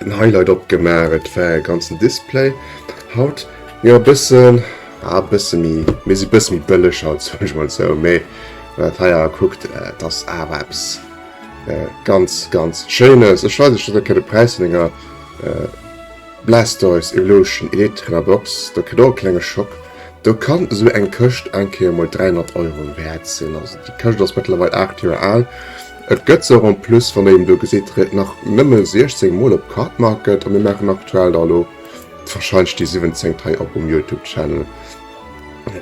den Highlight opgemaach, et war e ganzen Display haut jo e bëssen a ah, bësse mi mir si bësse mi bëlleg haut sech mal zou méi wat heier kuckt, äh, dat ass awer eppes äh, ganz ganz Schéines. Ech weis net, dat de Präis vun enger äh, Blastoise Evolution Electra Box, dat kritt och e klenge Schock. Do kann esou eng Këscht eng Kéier mol 300 Euro wäert sinn, also déi Këscht ass mëttlerweil 8 Joer al. Et gëtt se och en plus, wann Dir en do gesitt, red nach nëmme 16 mol op Cardmarket a mir maachen aktuell da elo wahrscheinlech déi siwwenzéngt hei op um Youtube Channel.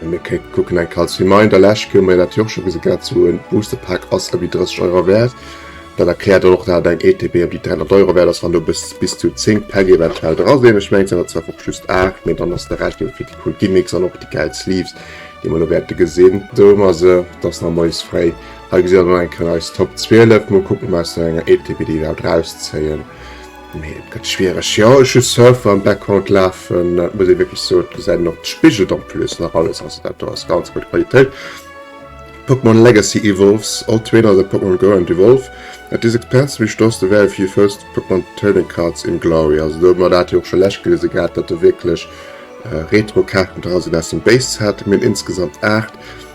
Mir kucken eng Kéier als Reminder, Lescht Joer hu mir dat jo och scho gesi gehat, sou e Booster Pack ass ëmmer déi 30 Euro wäert. Dat erkläert dann och, dat eng ETB ëm déi 300 Euro wäert ass, wann do bis bis zu 10 Päck eventuell dra sinn. Ech mengen et sinn der zwar och just 8, mee dann ass de Rescht eben fir déi cool Gimmicks an och déi gäil Sleeves, déi mer elo wäerte gesinn. Do hu mer se, dass nach Moies fréi Hei gesitt der dann eng Kéier eis Top 12. Mol kucken mer aus der enger Equipe déi iwwerhaapt rauszéien. Mee et gëtt schwiereg. Jo ech hu Surfer am Background lafen, et muss ee wierklech soen. Et gesäit een och, et spigelt en plus nach alles. Also dat do ass ganz gutt Qualitéit. Pokémon Legacy Evolves, All Trainer as a Pokémon Grow and Evolve, at this expense we restores the value of your first Pokémon Trading Cards in Glory. Also do hu mer dat jo och scho lech gewise gehat, datt do wierklech Retro Kaarten dra sinn aus dem Base Set. Mir hunn insgesamt 8.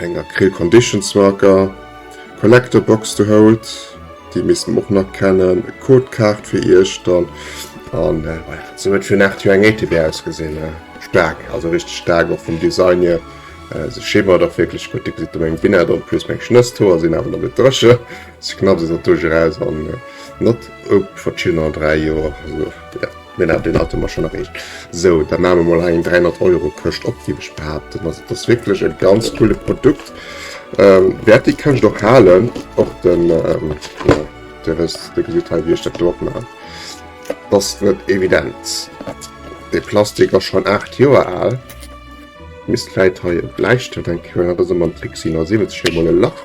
Eng Acryl Conditions Marker Collector Box do holt, déi misst mer och nach kennen. E Code Kaart fir Iechtern an sou huet fir nach jo eng ATB ausgesinn. Staark, also richteg staark och vum Design hier. Se schimmert och wierklech gutt. Dir gesitt do meng Binnert en plus meng Schnësshoer sinn awer nach net dréche. Se knapst esou doduerch eraus an not op verschiddener 3 Joer. Genau, deen hate mer schonn erreecht. Sou, da maache mer mol hei eng 300 Euro Këscht op, géif ech behaapten. Also et ass wierklech e ganz coole Produkt. Wäert déi Këscht och halen, och de, jo, Dir wësst, Dir gesitt hei, wéi ech dat do opmaachen. Et ass net evident. Dee Plastik ass schonn 8 Joer al. Misst vläicht hei e Bläistëft dran kréien, dat ass ëmmer en Trick, si 79, fir emol e Lach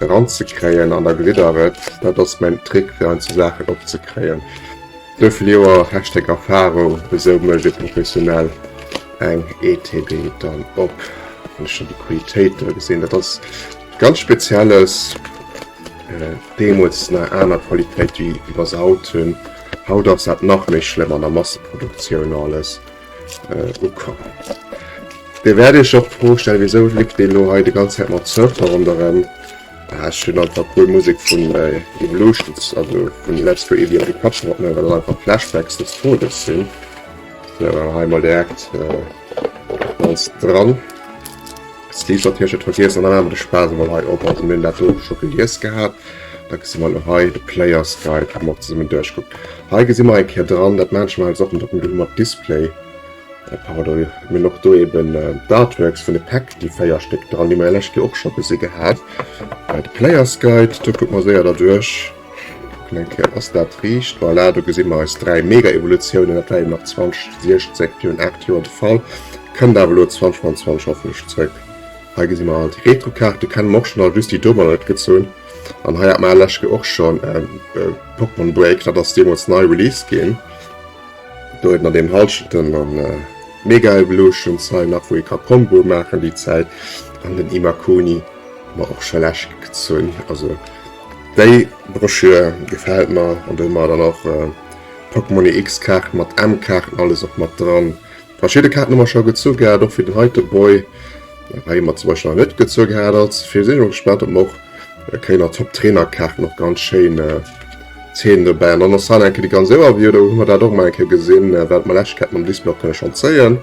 eranzekréien. An da gesitt Der et, dat ass mäin Trick, fir hei sou Saachen opzekréien. Wéivill Joer Hashtag Erfahrung, esou mécht ee professionell eng ETB dann op. Wann ech dann déi Qualitéiten do gesinn, dat ass ganz Spezielles. Deemools nach aner Qualitéit wéi iwwers haut hunn. Haut ass dat nach méi schlëmm an der Masseproduktioun alles ukomm. Dir wäert iech och d'Fro stellen, wéisou leeft deen elo hei déi ganz Zäit mat Surfer ronderëm. Ah, ech hunn einfach puer Musek vun Evolutions, also vun Let's Go Eevee op de Kapp gehatt, well dat einfach Flashbacks des Todes sinn. So, hei mol direkt äh, ganz dran. Steve hat hier schon vergees an an de Spaß mal hei op also mir dat do schon gelies gehabt. Da gesi mal hei de Players Guide mat zesumme duerchguckt. Hei gesi mer eng Keer dran, dat manchmal Sachen dat mat Display. Pardon, mir hunn och do eben d'Artworks vun de Päck, déi 4 Stéck dran, déi mer jo lech jo och scho gesi gehat. De Player's Guide, do kucke mer séier derduerch. Kucken eng Kéier, ass dat riicht? Voilà, do gesi mer eis dräi Mega-Evolutiounen. Dat war eben nach 2016, virun 8 Joer de Fall. Kënnt awer elo 2025 hoffentlech zréck. Hei gesi mer all déi Retro-Kaarten, déi kenne mer och schonn all, just déi do waren net gezunn. An hei hat mer lech jo och schonn Pokémon Break, dat ass deemools nei released ginn. Do huet mat dem Halschenten an mega Evolution Sign nach wou ee ka Comboe maachen déi Zäit an den Imakuni mer och scho lech gezunn. Also déi Broschür gefält mer an do hu mer dann och Pokémon EX Kaarten mat M-Kaarten alles och mat dran. Verschidde Kaarten hu mer scho gezu gehat och fir den heite Boy. Hei mat zum Beispiel nach net gezu gehadert. Fir sinn och gespannt op och kéiner top Trainerkaart noch ganz schéin äh, Zeen dobäi. An ass han enke déi ganz séwer wie oder hu mer dat och mal enke gesinn, äh, wat mer Läschketten am Display kënne schon zéien.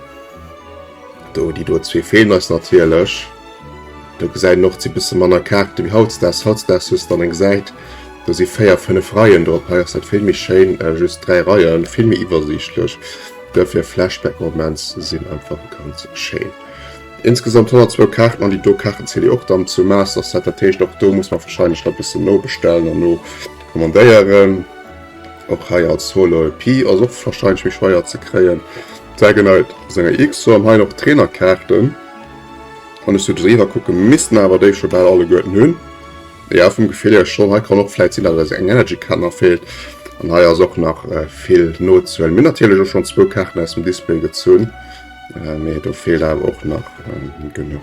Do déi do zwee feelen eis natierlech. Do gesäit noch ze bisse manner Kaarte wie hautstags hautstags hues dann eng Säit. Do si féier fënnef Reien do op hei ass dat vill méi schéin äh, just dräi Reien, vill méi iwwersiichtlech. Dofir Flashback-Moments sinn einfach ganz schéin. Insgesamt 102 Kaarten an déi do Kaarten ziele och dann zum Master Set, dat heescht och do muss mer wahrscheinlech nach bëssen nobestellen an no kommandéieren. Och hei als Holo EP ass och wahrscheinlech méi schweier ze kréien. Dragonite senger X an hei noch Trainerkaarten an ech sollte se iwwer kucke missten awer déi scho bal alleguerten hunn. Ja vum Gefill hier schon, hei kann och vläit sinn, datt eis eng Energy Card nach feelt. An hei ass och nach vill nozehuelen. Mir hunn natierlech och schonn zwou Kaarten aus dem Display gezunn. Äh, mee do fehlt awer och nach ähm, genug.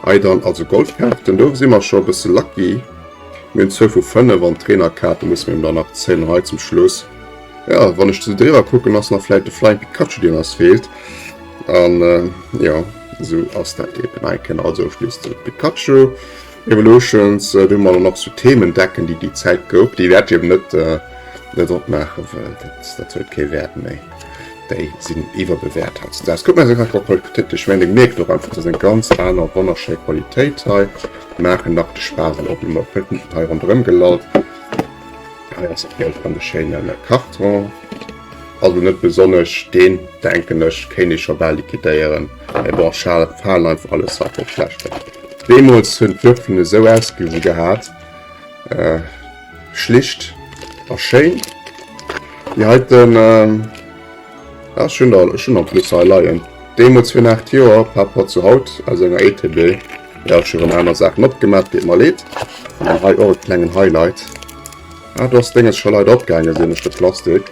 Hei dann also Goldkarten, do si mer scho bësse lucky. Mir zou vu 5 an Trainerkarte muss mir dann nach zählen hei zum Schluss. Ja, wann ech zu driwer kucken ass nach vielleicht de Flying Pikachu den ass fehlt. An äh, ja so ass dat eben. Nein, also schliesst Pikachu. Evolutions, do hu mer dann och sou Themen decken, déi déi Zäit gouf, déi wäert jo net net opmaachen, well dat dat huet kee Wäert méi. Déi sinn iwwerbewäert hautdesdaags. Kuckt mer se einfach op Pulpkritesch, mä dir mierkt och einfach, dat ass eng ganz aner wonnerschéi Qualitéit hei, déi maachen nach de Spaass an och déi Pulpen hei ronderëm gelallt. Hei ass et Geld an de schéine Karton. Also net besonnech, deen denken ech kéint ee scho bal liquidéieren, mee bon schal falen einfach alles wat net schlecht ass. Deemools hunn d'Würfelen esou ausgesi gehat, schlicht a schéin. Déi heiten, jo ech hunn der, ech hunn der en plus hei leien, deemools virun 8 Joer par rapport zu haut aus enger ETB, jo ech hu rëm aner Saachen opgemat, deet mer leed. An dann hei och e klengen Highlight. Ah, du hast Dinges schon leider abgegangen, sehe ich den Plastik.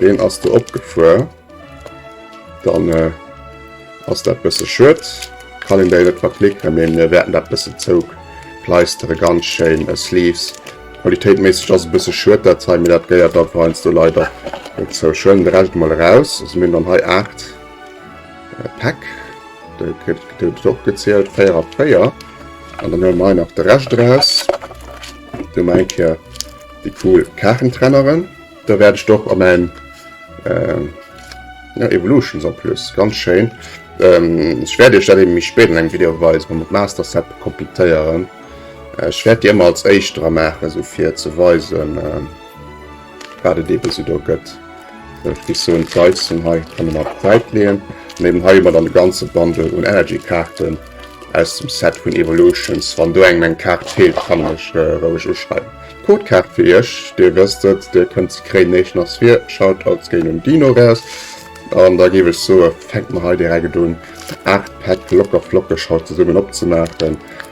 Den hast du abgefahren. Dann äh, hast du ein bisschen Schutt. Kann ich dir nicht verpflichten, aber wir werden das ein bisschen Zug pleistern, ganz schön. Äh, Sleeves. Qualitätmäßig das ein bisschen Schutt, das zeigen mir das gehört, da fallen du leider nicht so schön. Der Rest mal raus. Also, wir haben dann hier 8 äh, Pack. Der kriegt doch gezählt 4 auf 4. Und dann haben wir noch den Rest raus. Hun mer eng Kéier déi cool Kaachentrenneren. Da wärt ech d'och an mäin Evolutions en plus, ganz schéin. Ech wärt iech dat eben méi spéit an engem Video weisen, wa mer d'Master Set completéieren. Ech wärt déi ëmmer als éischt dra maachen, esou fir ze weisen. Waat et eben sou do gëtt. Ech muss soen d'Leisten hei kann een ab Säit leeën. An eben hei hu mer dann de ganze Bundle un Energy Kaarten aus dem Set vun Evolutions. Wann do engem eng Kaart feelt kann en mech roueg uschreiwen. D'Codekaart fir iech, dir wësst et, dir kënnt se kréien näischt nach vir Shoutouts géint den Dinosaurs. An da géif ech soe fänke mer hei direkt un 8 Pack locker flockeg haut zesummen opzemaachen.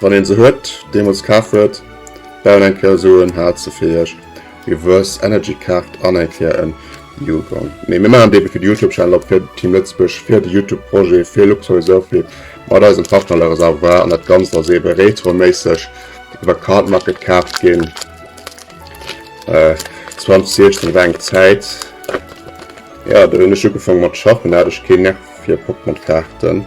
Wann een se huet, deemools kaf huet, bauen eng Kéier esou en Haal ze Feerch, Reverse Energy Kart an eng Kéier en Yukon. Nee, mir maachen d'Deebee fir de Youtube Channel op, fir Team Lëtzebuerg, fir de Youtube Projet, fir Luxury Sophie mat eisem Partner Le Reservoir an dat Ganzt ass eebe retroméisseg iwwer Cardmarket kaaft ginn. 2016 war eng Zäit, jo, do hunn ech ugefaangen mat schaffen, do hat ech keen Nerv fir Pokémon Kaarten.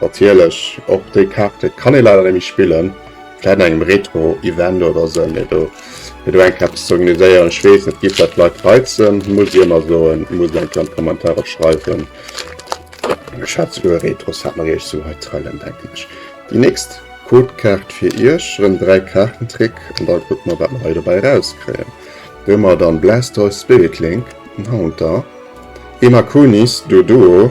Natierlech och déi Kaarte kann ee leider net méi spillen. Vläit an engem Retro-Event oder sou, mee do fir do eng Kaart ze organiséieren, ech weess, et géif dat Leit reizen, muss ech ëmmer soen, muss een eng an d'Kommentarer schreiwen. Ech hat souguer e Retro-Set mat iech, sou hei Thailand, denken ech. Déi nächst Codekaart fir iech, erëm 3 Kaartentrick an da kucke mer, wat mer hei dobäi erauskréien. Do hu mer dann Blastoise, Spirit Link, den Haunter, Imakunis, Doduo,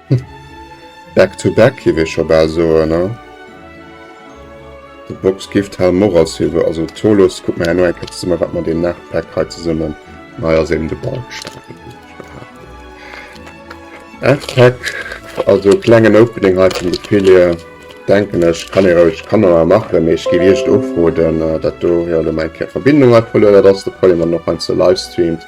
Back to back giff ech scho baal soen hein. Dei Box gifft hellem och als Silver, also Tholos kuck mer herno eng Kéier zesummen wat mer deen nach Pack hei zesummen. Hei ass eben de Bulk Stapel wéi ech scho haat. 8 Pack, also klengen Opening hei vum Ophelia denken ech kann ee roueg kann mer machen, mee ech giff iech ofrooden dat do, jo lo meng Verbindung huet verluer dat ass de Problem, an och heiansdo livestreamt.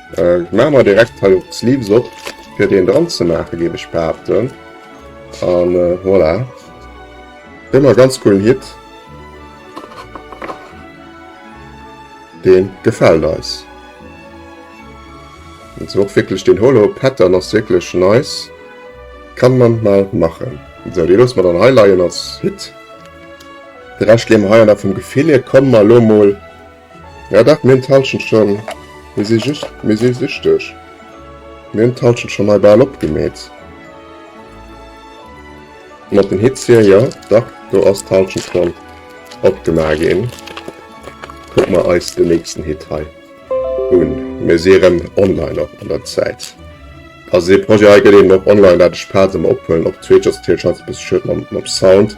Maache mer direkt hei och d'Sleeves op fir deen dran ze maachen géif ech behaapten. An voilà. Ëmmer ganz coolen Hit. Deen gefält eis. Et ass och wierklech deen Holo Pattern ass wierklech nice. Kann man mal machen. Esou dee loosse mer dann hei leien als Hit. De Rescht leeë mer hei an a vum Gefill hier komme mer elo mol. Ja dat mient Halschent schon, mir si just mir si süchteg, mir hun d'Halschent schon hei baal opgemeet. Mat den Hitzien, jo dach do ass d'Halschent schon opgema gin. Kuck mer eis den nächsten Hit hei un, mir si rem online op der Zäit. Also dee Projet hei get eben och online, dat ech paart emmer ophuelen, op d'zweet just d'Hielschaftsbus schued mam Sound.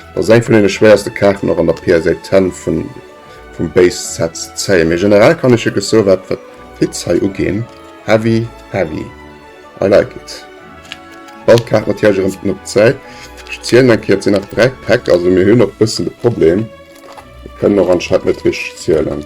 Ass eng vun den schwéiersten Kaarten och an der PSA 10 vun vum Base Set ze zéien, mee generell kann ech jo gesso wat wat d'Hits hei ugeen heavy heavy I like it. Bal d'Kaart natierlech erëm op d'Säit, ech zielen eng Kéier et sinn nach 3 Päck also mir hunn och bëssen de Problem mir kënnen och anscheinend net richteg zielen.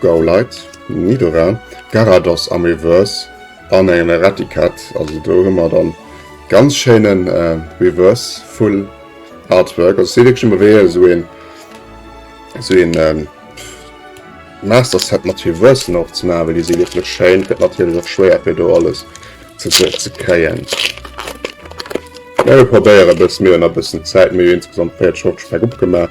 Gauleid, Nidorà, Garados am Reverse an engem Erraticat. Also do hu mer dann ganz schéinen äh, Reverse Full Artwork. Also se wirklich immer wéi esou een esou een ähm, Master Set mat Reversen och ze machen, weil die se wirklich schéin. Gëtt natürlich och schwéier fir do alles ze, ze, ze kréien. Ja, wir probéieren bis mir nach ein bisschen Zeit, mir insgesamt 40 Schocks opgemacht.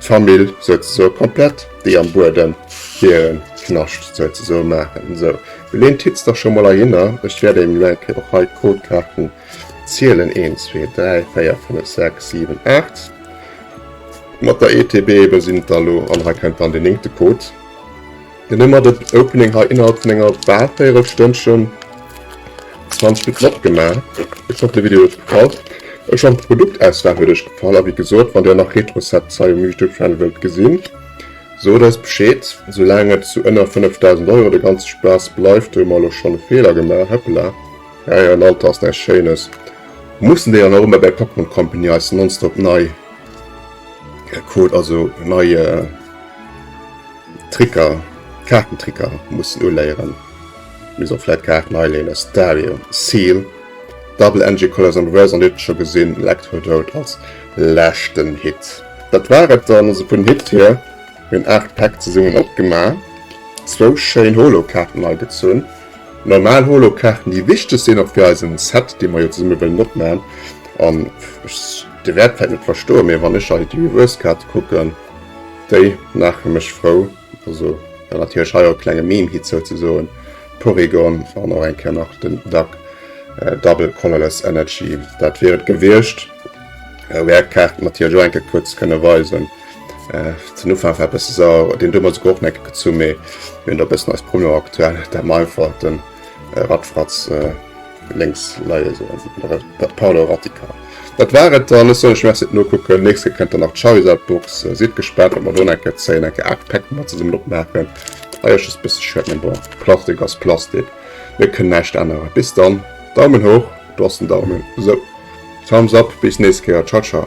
D'Famill souze soe komplett, déi am Buedem hiren Knascht souze soe maachen. Esou, well een titzt dach scho mol heihinner. Ech wäert engem elo eng Kéier och hei d'Codekaarten zielen, een, zwee, dräi, véier, fënnef, sechs, siwen, aacht. Mat der ETB ebe sinn et der elo, an hei kennt dann deen néngte Code. Mir hu mat et Opening hei innerhalb vun enger bal 4 Stënnchen 20 Bit flott gemaach. Ech hoffe de Video huet gefall. Ech hoffe d'Produktauswahl huet iech gefall a wéi gesot wann dir och nach Retrocep Zeil um Youtube Channel wëllt gesinn sot eis Bescheed. Soulaang et zu ënner 5000 Euro de ganze Spaass bleift hu mer elo schonn e Feeler gemaach, hëppela. Ja ja, en Alter ass näischt Schéines. Mussen déi dann och ëmmer bäi Popcorn Company eis nonstop nei Code also nei. Tricker, Kaartentricker mussen uléieren. Misst och vläit Kaarten hei léine. Stadio, Seal, Double Energy Colors an Reverse an dir hutt et scho gesinn, Electrodote als leschten Hit. Dat war et dann also vun Hit hier. Mir hunn 8 Päck zesummen opgemaach, zwou schéin Holo-Kaarten hei gezunn, normal Holo-Kaarten déi wichteg sinn och fir eisen Set dee mer jo zesumme wëllen opmachen an ech, dir wäert vläit net verstoen, mee wann ech hei d'Reverse-Kaarte kucken, Déi maache mech frou, also well natierlech hei och e klenge Meme-Hit souzesoen, Porygon an och eng Kéier nach den Duck, Double Colorless Energy, dat wier et gewiescht. Wou är Kaarten natierlech och eng Kéier kuerz kënne weisen. Den Ufank war e bësse sauer, deen do huet mer esouguer och Nécke gezu, mee mir hunn do e bëssen eis Promo aktuell, dat mer einfach den Radfratz Lénks leie se also vun der Pat Paolo Rattica. Dat war et dann. Ech soll lech Merci nokucken. Nächst Kéier kënnt dann nach d'Charizard-Box. Sidd gespaant, wat mer do nach eng Kéier zéien. Eng Kéier 8 Päck mat zesummen opmaachen. Leider just e bësse schued, mee bon, Plastik ass Plastik. Mir kënnen näischt änneren. Bis dann, Daumen hoch, do ass den Daumen. Sou, Thumbs up, bis nächst Kéier. Ciao, ciao.